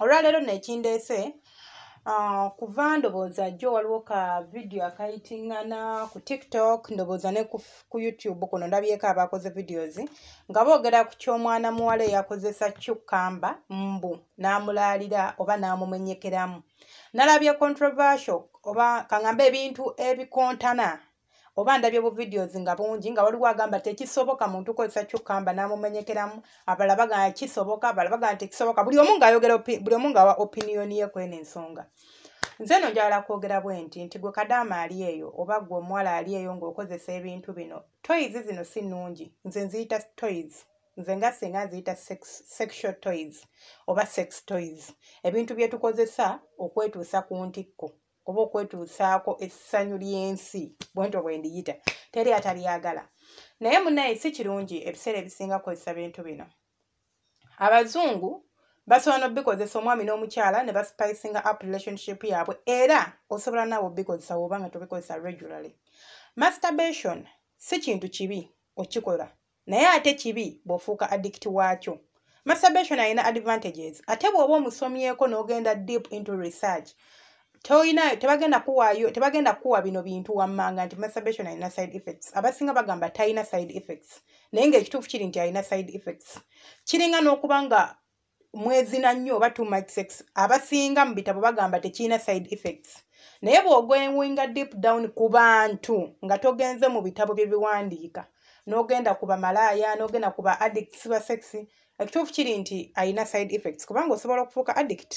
olwaleero nekindeese ah, kuva ndowooza jjo waliwo ka vidiyo akayitingana ku tiktok ndowooza ne ku youtube kuno ndabyeko abakoze videos nga boogera ku ky'omwana muwala eyakozesa cucamba mbu n'amulaalira oba n'amumenyekeramu nalabye controversial oba kaŋamba ebintu ebikontana oba ndabye bu videos nga bungi nga waliwo agamba tekisoboka muntu kozesa kyukamba namumenyekeramu abala bagana kisoboka abala bagana tekisoboka buli omu ngaayogera buli omu ngawa opinion ye kwena ensonga nze no njagala kwogera bwe nti nti gwe kadaama ali eyo oba gwe omuwala ali eyo ngaokozesa ebintu bino toys zino si nungi nze nziyita toys nze nga singa nziyita sexual toys oba sex toys ebintu byetukozesa okwetuusa ku ntikko oba okwetuusaako essanyu ly'ensi bwentyo bwe ndiyita teri atalyagala naye munaye si kirungi ebiseera ebisinga kukozesa bintu bino abazungu basobola nobikozesa omwami n'omukyala ne baspicinga up relationship yaabwe era osobola naawe obikozesa woba nga tobikozesa regularly masturbation si kintu kibi okikola naye ate kibi bw'ofuuka addict waakyo masturbation alina advantages ate bw'oba omusomyeko n'ogenda deep into research tolina tebagenda kuwaayo tebagenda kukuwa bino bintu wammanga nti masturbation alina side effects abasinga bagamba talina side effects naye ng'ekituufu kiri nti alina side effects kiringa n'okuba nga mwezina nnyo oba too much sex abasinga mu bitabo bagamba tekirina side effects naye bw'ogoewinga deep down ku bantu nga togenze mu bitabo bye biwandiika n'ogenda ku bamalaaya n'ogenda ku ba addicts ba sex ekituufu kiri nti alina side effects kubanga osobola okufuuka addict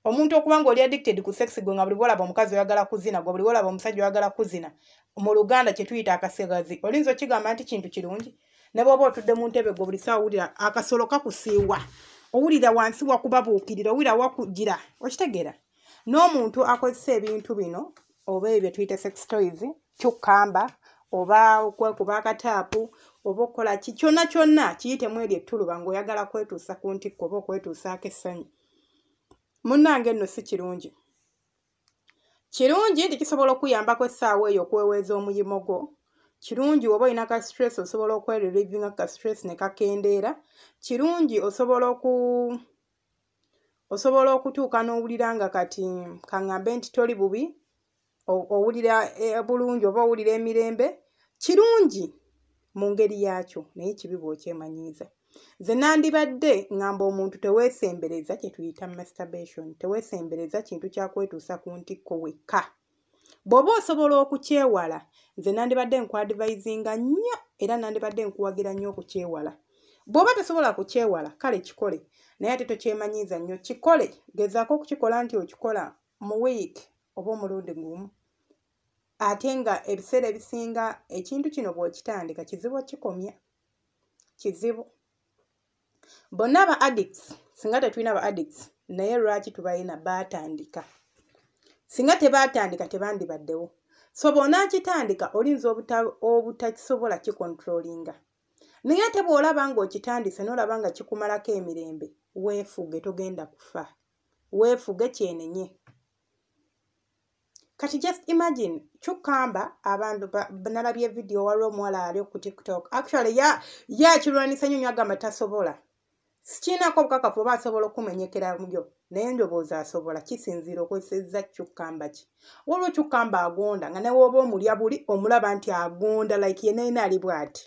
omuntu okuba nga oli addicted ku sex gwe nga buli bwolaba omukazi oyagala kuzina gwe buli bwolaba omusajja oyagala kuzina mu luganda kyetuyita akasigazi olinza okigamba nti kintu kirungi ne bwoba otudde mu ntebe gwe buli saa owulira akasolo kakusiiwa owulira wansi wakubabuukirira owulira wakugira okitegeera n'omuntu akozesa ebintu bino oba ebyo tuyita sex toys kyukkamba oba okwekuba akataapu oba okukola ki kyonna kyonna kiyitemu eryo ettuluba ng'oyagala kwetuusa ku ntikko oba okwetuusaako essanyu munnange nno si kirungi kirungi nti kisobola okuyambako essaawa eyo okweweeza omuyimo gwo kirungi woba olina ka stress osobola okwerelivinga ka stress ne kakendeera kirungi osobola oku osobola okutuuka n'owulira nga kati kaŋŋambe nti toli bubi owulira eh, bulungi oba owulira emirembe kirungi mu ngeri yaakyo naye kibi bw'okyemanyiiza nze nandibadde ngamba omuntu teweesembereza kye tuyita masturbation teweesembereza kintu kyakwetuusa ku ntikko wekka bw'oba osobola okukyewala nze nandibadde nkuadivisinga nnyo era nandibadde nkuwagira nnyo okukyewala bw'oba tosobola kukyewala kale kikole naye ate tokyemanyiiza nnyo kikole gezaako okukikola nti okikola mu week oba omulundi gumu ate nga ebiseera ebisinga ekintu kino bw'okitandika kizibu okikomya kizibu bonna aba addicts singa tetulina ba addicts naye lwaki tubalina baatandika singa tebaatandika tebandibaddewo so bw'onaakitandika olinza obutakisobola kikontrolinga naye ate bw'olaba ng'okitandise n'olaba nga kikumalako emirembe weefuge togenda kufa weefuge kyenenye kati just imagine kyukkamba abantu nalabye vidiyo waliwo omuwala ali ku tiktok actually yakirwanisa nyo nyo agamba tasobola sikiinako obukakafu oba asobola okumenyekera muyo naye ndowooza asobola kisinziira okozesezza kyukkamba ki waliwo kyukkamba agonda nga newoba omulya buli omulaba nti agonda like yenayina ali bwati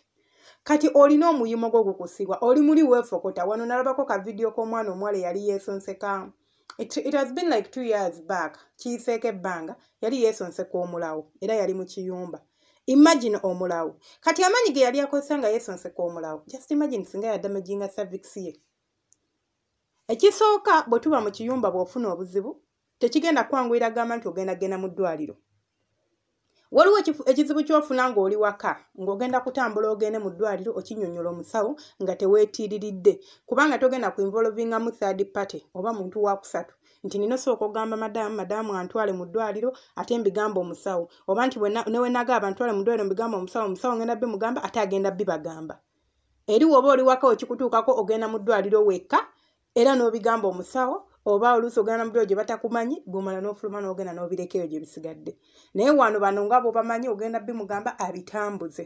kati olina omuyimo gwo gukusibwa oli muli weefokota wano nalabako ka vidiyo k'omwana omuwala eyali yeesonseka it, it has been like two years back kiyiseeko ebbanga yali yeesonseka omulawo era yali mu kiyumba imagine omulawo kati amaanyi ge yali akozesa nga yeesonseka omulawo just imagine singa yadamajinga service ye ekisooka bwe tuba mu kiyumba bw'ofuna obuzibu tekigenda kwanguyira gamba nti ogenda genda mu ddwaliro waliwo ekizibu kyofuna ng'oli waka ng'ogenda kutambula ogende mu ddwaliro okinyonyola omusawo nga teweetiiriridde kubanga togenda ku involvingamu third party oba muntu wakusatu nti nina osooka ogamba madamu madamu antwale mu ddwaliro ate mbigamba omusawo oba nti newenaga abantwale mu ddwaliro mbigamba omusawo omusawo ngenda bimugamba ate agenda bibagamba eri woba oli waka wekikutuukako ogenda mu ddwaliro wekka era n'obigamba omusawo oba oluusi ogenda namubiro gye batakumanyi gomala n'ofuluma n'ogenda n'obirekeyo gye bisigadde naye wano bano nga bobamanyi ogenda bimugamba abitambuze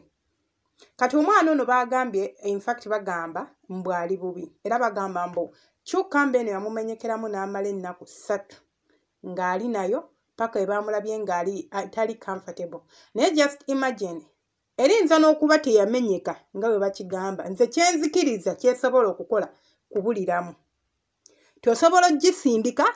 kati omwana ono bagambye infact bagamba mbwali bubi era bagamba mbu kyokka mba eno yamumenyekeramu n'amala ennaku ssatu ng'ali nayo paka ebamulabye ng'ali tali comfortable naye just imagine erinza n'okuba teyamenyeka nga bwe bakigamba nze kyenzikiriza kyesobola okukola kubuliramu tosobola ogisindika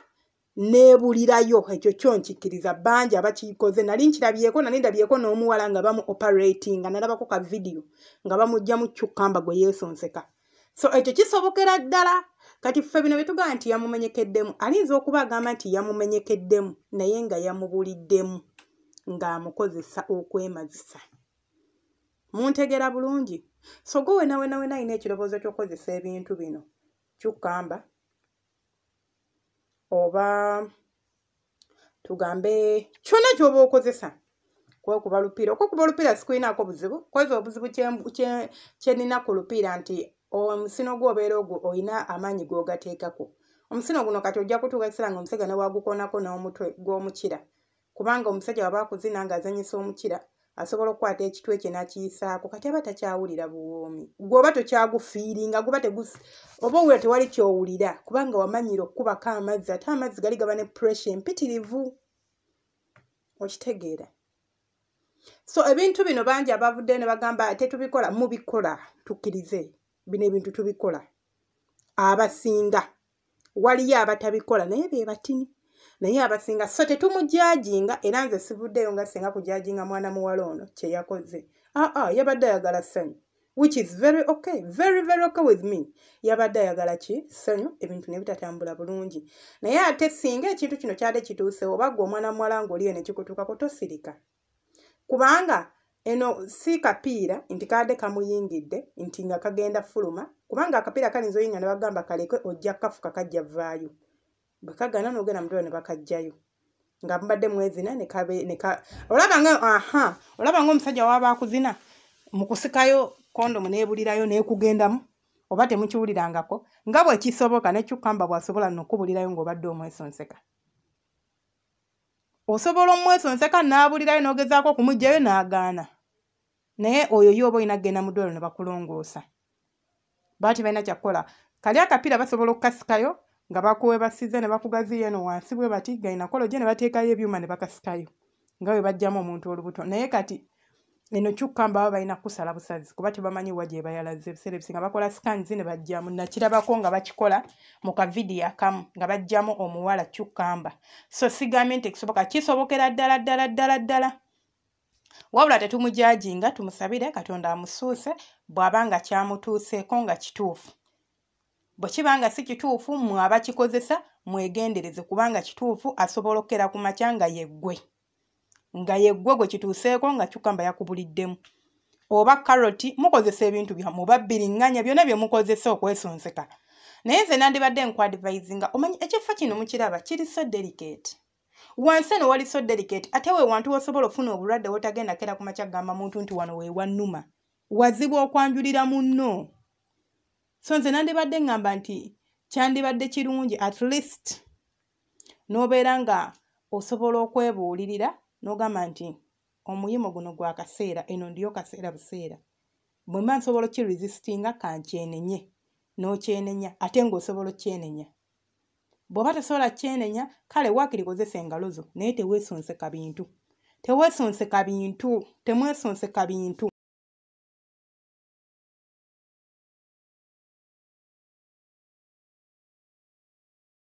nebulirayo ekyo kyo nkikiriza bangi abakikoze nali nkirabyeko nali ndabyeko n'omuwala nga bamu operatinga nalabako ka vidiyo nga bamugjamu cucamba gwe yeesonseka so ekyo kisobokera ddala kati ffe bino bye tugamba nti yamumenyekeddemu alinza okuba agamba nti yamumenyekeddemu naye nga yamubuliddemu ng'amukozesa okwemazisa muntegera bulungi so gwe wenawenawena alina ekirowoozo ky'okukozesa ebintu bino kyukamba oba tugambe kyona kyoba okozesa kwekuba lupiira okwekuba olupiira sikulinaako buzibu kweza obuzibu kyenina ku lupiira nti omusino gwobeera ogwo olina amaanyi gwogateekako omusino guno kati ojja kutuuka ekiseera nga omusega newagukonako n'omutwe gw'omukira kubanga omusajja waba akuzina ng'azanyisa omukira asobola okukwata ekitwe kye nakiyisaako kati aba takyawulira buwoomi gweoba tokyagufiiringa guba tegus oba owulira tewali kyowulira kubanga wamanyira okukubako amazzi ate amazzi gali gaba ne pressure empitirivu okitegeera so ebintu bino bangi abavuddeyo ne bagamba tetubikola mubikola tukkirize bino ebintu tubikola abasinga waliyo abatabikola naye be batini naye abasinga so tetumujajinga era nze sivuddeyo nga singa kujajinga mwana muwala ono kyeyakoze aa ah, ah, yabadde ayagala sanyu which is very okay very very okay with me yabadde ayagala ki sanyu ebintu nebitatambula bulungi naye ate singa ekintu kino kyade kituusewo bagwa omwana muwala ngaoliyo nekikutuukako tosirika kubanga eno si kapiira nti kaadde kamuyingidde nti nga kagenda fuluma kubanga akapiira kalinza oyinga ne bagamba kaleke ojja kafuka kajja vaayo bwe kagana nogenda mutula ne bakajjayo nga mubadde mwezina olaba nga aha olaba nga omusajja waaba akuzina mu kusikayo kondomu neebulirayo neekugendamu oba temukiwulirangako nga bwe kisoboka nekyukamba bwasobola nokubulirayo ng'obadde omwesonseka osobola omwesonseka n'abulirayo n'ogezaako okumugjayo n'agaana naye oyo ye oba olina kugenda mu ddwalo ne bakulongoosa bati balina kyakukola kali akapiira basobola okukasikayo nga bakuwebasiza ne bakugaziya eno wansi bwe bati gainakolo gye ne bateekayo ebyuma ne bakasikayo nga bwe bajjamu omuntu olubuto naye kati eno kyukka mbaba balina kusala busazi kuba tebamanyi wa gye bayalaze ebiseera ebisinga bakola scans ne bajjamu nakirabako nga bakikola mu kavidiyo akamu nga bajjamu omuwala kyukkamba so sigambye nti ekisoboka kisobokera ddala ddala ddala ddala wabula tetumujajinga tumusabire katonda amusuuse bw'aba nga kyamutuuseeko nga kituufu bwe kiba nga si kituufu mwe abakikozesa mwegendereze kubanga kituufu asobola okukera ku makya nga yeggwe nga yeggwe gwe kituuseeko nga cukamba yakubuliddemu oba karoti mukozesa ebintu byamu oba bbiringanya byonna bye mukozesa okwesonseka naye nze nandibadde nkuadivisinga omanyi ekifo kino mukiraba kiri so delicate wansi eno wali so delicate ate we wantu wosobola ofuna obulwadde wotagenda kera ku makya kugamba muntu nti wano wewannuma wazibu okwanjulira munno so nze nandibadde ŋŋamba nti kyandibadde kirungi at least n'obeera nga osobola okwebuulirira n'ogamba nti omuyimu guno gwa kaseera eno ndiyo kaseera buseera bwe mba nsobola okiresistinga kankyenenye n'okyenenya ate ng'osobola okyenenya bw'oba tosobola kyenenya kale waakiri kozesa engalo zo naye teweesonseka bintu teweesonseka bintu temwesonseka bintu